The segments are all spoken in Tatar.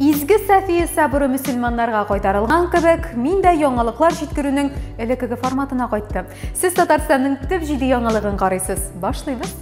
Изге Сафия сабыры мөселманнарга кайтарылган кебек, мин дә яңалыклар җиткерүнең элеккеге форматына кайттым. Сез Татарстанның төп җиде яңалыгын карыйсыз. Башлыйбыз.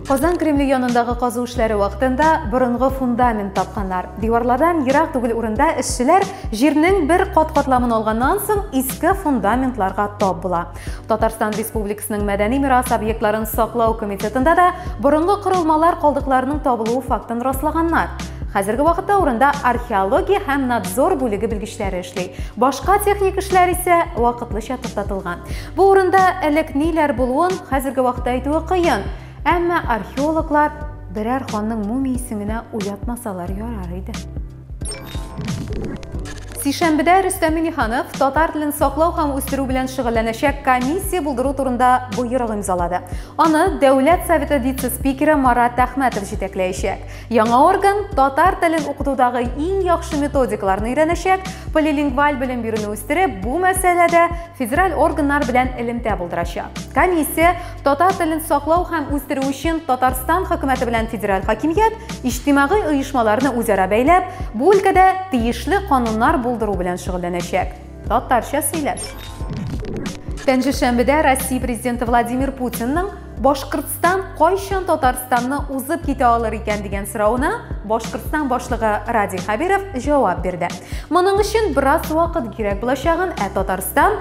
Казан Кремле янындагы казу эшләре вакытында борынгы фундамент тапканнар. Диварлардан ерак түгел урында эшчеләр җирнең бер кат-катламын алганнан соң иске фундаментларга тап була. Татарстан Республикасының мәдәни мирас объектларын саклау комитетында да борынгы корылмалар калдыкларының табылуы фактын раслаганнар. Хәзерге вакытта урында археология һәм надзор бүлеге белгечләре эшли. Башка техник эшләр исә вакытлыча туктатылган. Бу урында элек ниләр булуын хәзерге вакытта әйтүе кыен. Әмма археологлар берәр ханның мумиясен генә уятмасалар ярар иде. Сишәмбедә Рөстәм Миниханов татар телен саклау һәм үстерү белән шөгыльләнәчәк комиссия булдыру турында боерык имзалады. Аны Дәүләт Советы вице-спикеры Марат Әхмәтов җитәкләячәк. Яңа орган татар телен укытудагы иң яхшы методикаларны өйрәнәчәк, полилингваль белем бирүне үстереп, бу мәсьәләдә федераль органнар белән элемтә булдырачак. Комиссия Татар телен саклау һәм үстерү өчен Татарстан хөкүмәте белән федераль хакимият иҗтимагый оешмаларны үзара бәйләп, бу өлкәдә тиешле кануннар булдыру белән шөгыльләнәчәк. Татарча сөйләш. Пәнҗешәмбедә Россия президенты Владимир Путинның Башкортстан кайчан Татарстанны узып китә алыр икән дигән сорауына Башкортстан башлыгы Радий Хәбиров җавап бирде. Моның өчен бераз вакыт кирәк булачагын, ә Татарстан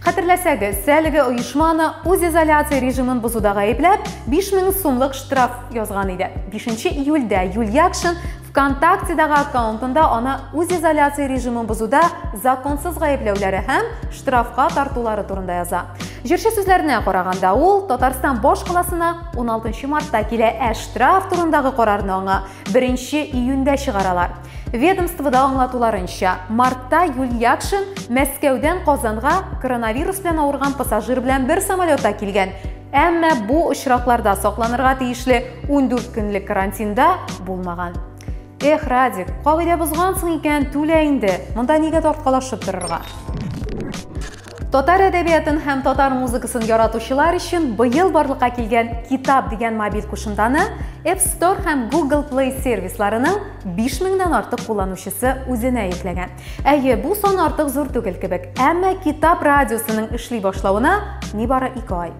Хәтерләсәгез, әлеге оешма аны үз изоляция режимын бозуда гаепләп, 5000 сумлык штраф язган иде. 5 июльдә Юльякшин ВКонтактедагы аккаунтында аны үз изоляция режимын бозуда законсыз гаепләүләре һәм штрафка тартулары турында яза. Җырчы сүзләренә караганда, ул Татарстан баш каласына 16 мартта килә, ә штраф турындагы карарны аңа 1 июньдә чыгаралар. Ведомствода аңлатуларынча, мартта Юль Якшин Мәскәүдән Казанга коронавирус белән авырган пассажир белән бер самолетта килгән. Әмма бу очракларда сакланырга тиешле 14 көнлек карантинда булмаган. Эх, Радик, кагыйдә бозгансың икән, түлә инде. Монда нигә тарткалашып торырга? Татар әдәбиятын һәм татар музыкасын яратучылар өчен быел барлыкка килгән Китап дигән мобиль кушымтаны App Store һәм Google Play сервисларының 5000 нан артык кулланучысы үзенә йөкләгән. Әйе, бу сон артык зур түгел кебек, әмма Китап радиосының эшли башлавына нибары 2 ай.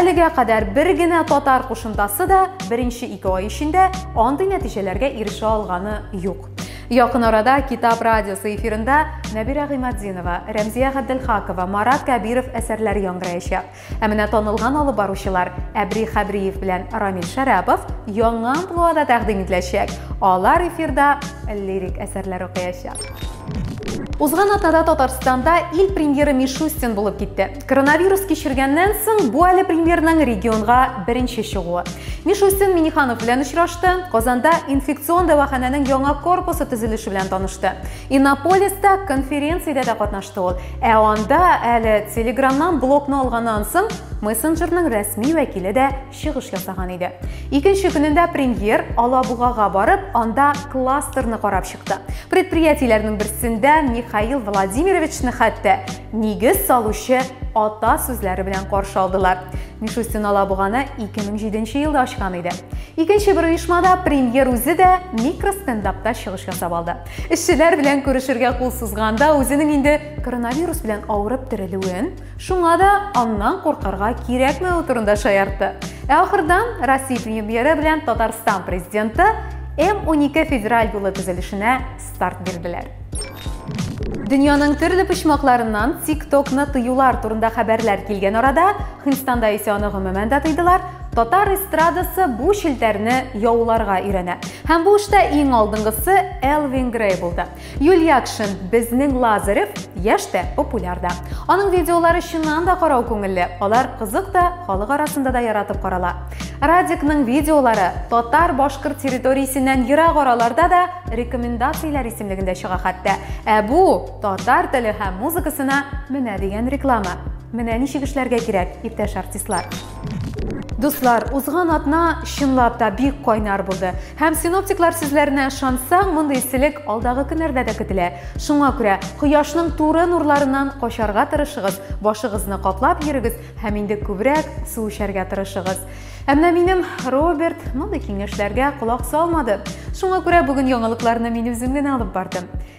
Әлегә кадәр бер генә татар кушымтасы да беренче 2 ай эчендә андый нәтиҗәләргә ирешә алганы юк. Якын арада Китап радиосы эфирында Нәбирә Гыйматдинова, Рәмзия Габделхакова, Марат Кәбиров әсәрләре яңгыраячак. Ә менә танылган алып баручылар Әбри Хәбриев белән Рамил Шәрәпов яңа амплуада тәкъдим ителәчәк. Алар эфирда лирик әсәрләр укыячак. Узган атнада Татарстанда ил премьеры Мишустин булып китте. Коронавирус кичергәннән соң бу әле премьерның регионга беренче чыгуы. Мишустин Миниханов белән очрашты, Казанда инфекцион дәваханәнең яңа корпусы төзелеше белән танышты. Иннополиста конференциядә дә катнашты ул. Ә анда әле Телеграмнан блокны алганнан соң мессенджерның рәсми вәкиле дә чыгыш ясаган иде. Икенче көнендә премьер Алабугага барып, анда кластерны карап чыкты. Предприятиеләрнең берсендә Михаил Владимировичны хәтта нигез салучы ата сүзләре белән каршы алдылар. Мишустин Алабуганы 2007 елда ачкан иде. Икенче бер оешмада премьер үзе дә микростендапта чыгыш ясап алды. Эшчеләр белән күрешергә кул сузганда үзенең инде коронавирус белән авырып терелүен, Шуңа да аннан куркырга кирәкмәве турында шаяртты. Ә ахырдан Россия премьеры белән Татарстан президенты М12 федераль юлы төзелешенә старт бирделәр. Дөньяның төрле почмакларыннан TikTok-ны тыюлар турында хәбәрләр килгән арада, Хинстанда исә аны гомумән дә тыйдылар, татар эстрадасы бу челтәрне яуларга өйрәнә. Һәм бу эштә иң алдынгысы Элвин Грей булды. Юльякшин, безнең Лазарев яшь тә, популяр да. Аның видеолары чыннан да карау күңелле, алар кызык та, халык арасында да яратып карала. Радикның видеолары татар-башкорт территориясеннән ерак араларда да рекомендацияләр исемлегендә чыга хәтта. Ә бу татар теле һәм музыкасына менә дигән реклама. Менә ничек эшләргә кирәк, иптәш артистлар. Дуслар, узган атна чынлап та бик кайнар булды. Һәм синоптиклар сүзләренә ышансаң, мондый эсселек алдагы көннәрдә дә көтелә. Шуңа күрә кояшның туры нурларыннан качарга тырышыгыз, башыгызны каплап йөрегез һәм инде күбрәк су эчәргә тырышыгыз. Ә менә минем Роберт мондый киңәшләргә колак салмады. Шуңа күрә бүген яңалыкларны мин үзем генә алып бардым.